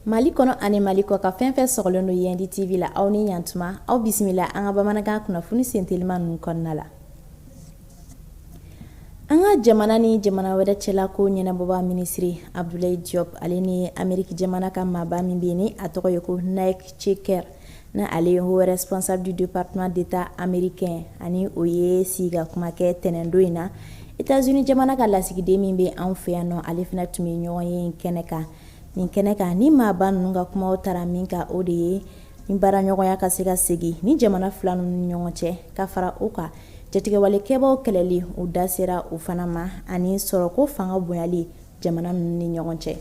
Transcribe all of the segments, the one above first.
Mali kɔnɔ ani mali kɔkan fɛn fɛn sogolen don yen di TV la aw ni ɲan tuma aw bisimila an ka bamanankan kunnafoni senteliman ninnu kɔnɔna la An ka jamana ni jamana wɛrɛ cɛla ko ɲɛnabɔba minisiri Abudulayi Diyɔp ale ni Ameriki jamana ka maaba min bɛ yen ni a tɔgɔ ye ko Nick Checker ni ale ye haut responsable du département d'Etat américain ani o ye sigikakuma kɛ tɛnɛndon in na Etats-Unis jamana ka lasigiden min bɛ anw fɛ yan nɔ ale fana tun bɛ ɲɔgɔnye in kɛnɛ kan nin kɛnɛ kan ni maaba ninnu ka kumaw tara min kan o de ye ni baaraɲɔgɔnya ka se ka segin ni jamana fila ninnu ni ɲɔgɔn cɛ ka fara o kan jatigɛwalekɛbaw kɛlɛli u da sera u fana ma ani sɔrɔko fanga bonyali jamana ninnu ni ɲɔgɔn cɛ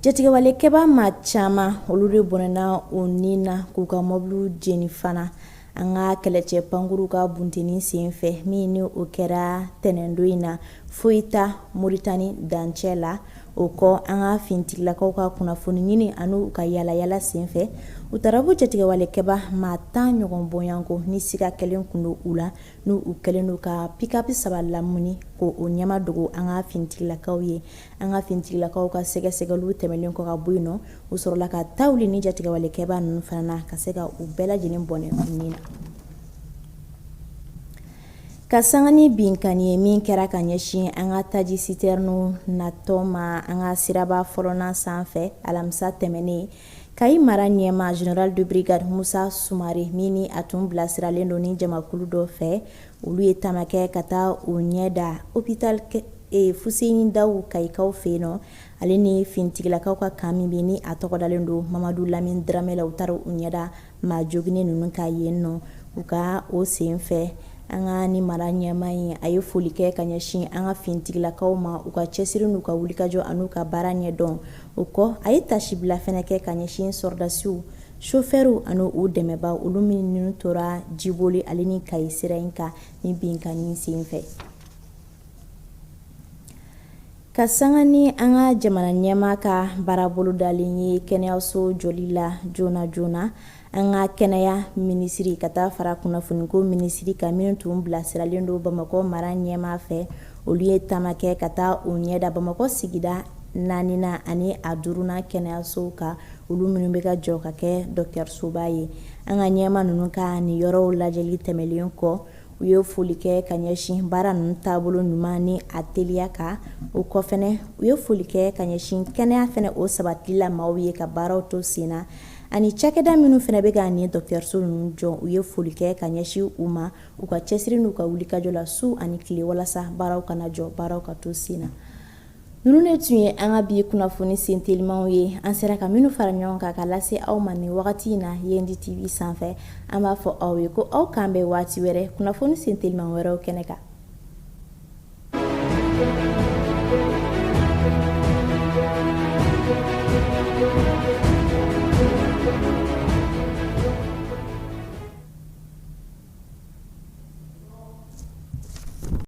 jatigɛwalekɛba maa caman olu de bɔnɛna u nin na k'u ka mɔbiliw jeni fana an ka kɛlɛcɛ pankurunw ka bunteni sen fɛ min ni o kɛra tɛnɛndo in na Foyita Moritani dancɛ la o kɔ an ka finitigilakaw ka kunnafoni ɲini ani u ka yaalayaala sen fɛ u taara bɔ jatigɛwalekɛba maa tan ɲɔgɔn bonya ko ni siga kɛlen tun don u la n' u kɛlen don ka pikapu saba lamini ka o ɲɛmadogo an ka finitigilakaw ye an ka finitigilakaw ka sɛgɛsɛgɛli tɛmɛnen kɔ ka bɔ yen nɔ u sɔrɔla ka taa ni ni jatigɛwalekɛba ninnu fana na ka se ka u bɛɛ lajɛlen bɔnɛ u nin na ka sanga ni binkan ye min kɛra ka ɲɛsin an ka taji sitɛrini natɔ ma an ka siraba fɔlɔnan sanfɛ alamisa tɛmɛnen Kayi mara ɲɛmaa général de brigade Musa Sumare min a tun bilasiralen don ni jamakulu dɔ fɛ olu ye taama kɛ ka taa u ɲɛ da hôpital kɛ ee Fuseni Dawu Kayikaw fɛ yen nɔ, ale ni finitigilakaw ka kan min bɛ yen ni a tɔgɔ dalen don Mamadu Lamini Dramɛ la, u taara u ɲɛ da maa joginnen ninnu kan yen nɔ, u ka o sen fɛ, an ka nin mara ɲɛmaa in, a ye foli kɛ ka ɲɛsin an ka finitigilakaw ma, u ka cɛsiri n'u ka wulikajɔ an'u ka baara ɲɛdɔn, o kɔ, a ye taasibila fana kɛ ka ɲɛsin sɔrɔdasiw Sofɛriw ani u dɛmɛba olu minnu tora Jiboli ale ni Kayi sira in kan nin binkanni sen fɛ ka sanga ni an ka jamana ɲɛmaa ka baara bolodalen ye kɛnɛyaso jɔli la joona joona an ka kɛnɛya minisiri ka taa fara kunnafoniko minisiri kan min tun bilasiralen don bamakɔ mara ɲɛmaa fɛ olu ye taama kɛ ka taa u ɲɛ da bamakɔ sigida naani ani a duurunan kɛnɛyasow kan olu minnu bɛ ka jɔ ka kɛ dɔgɔtɔrɔsoba ye an ka ɲɛmaa ninnu ka nin yɔrɔw lajɛli tɛmɛnlen kɔ u ye foli kɛ ka ɲɛsin baara ninnu taabolo ɲuman ni a teliya kan o kɔ fana u ye foli kɛ ka ɲɛsin kɛnɛya fana o sabati la maaw ye ka baaraw to sen na ani cakɛda minnu fana bɛ ka nin dɔgɔtɔrɔsow ninnu jɔ u ye foli kɛ ka ɲɛsin u ma u ka cɛsiri n'u ka wulikajɔ la su ani tile walasa baaraw kana jɔ baaraw ka to sen na Ninnu de tun ye an ka bi kunnafoni sen telimanw ye an sera ka minnu fara ɲɔgɔn kan ka lase aw ma nin wagati in na yendi tv sanfɛ an b'a fɔ aw ye ko aw k'an bɛn waati wɛrɛ kunnafoni sen teliman wɛrɛw kɛnɛ kan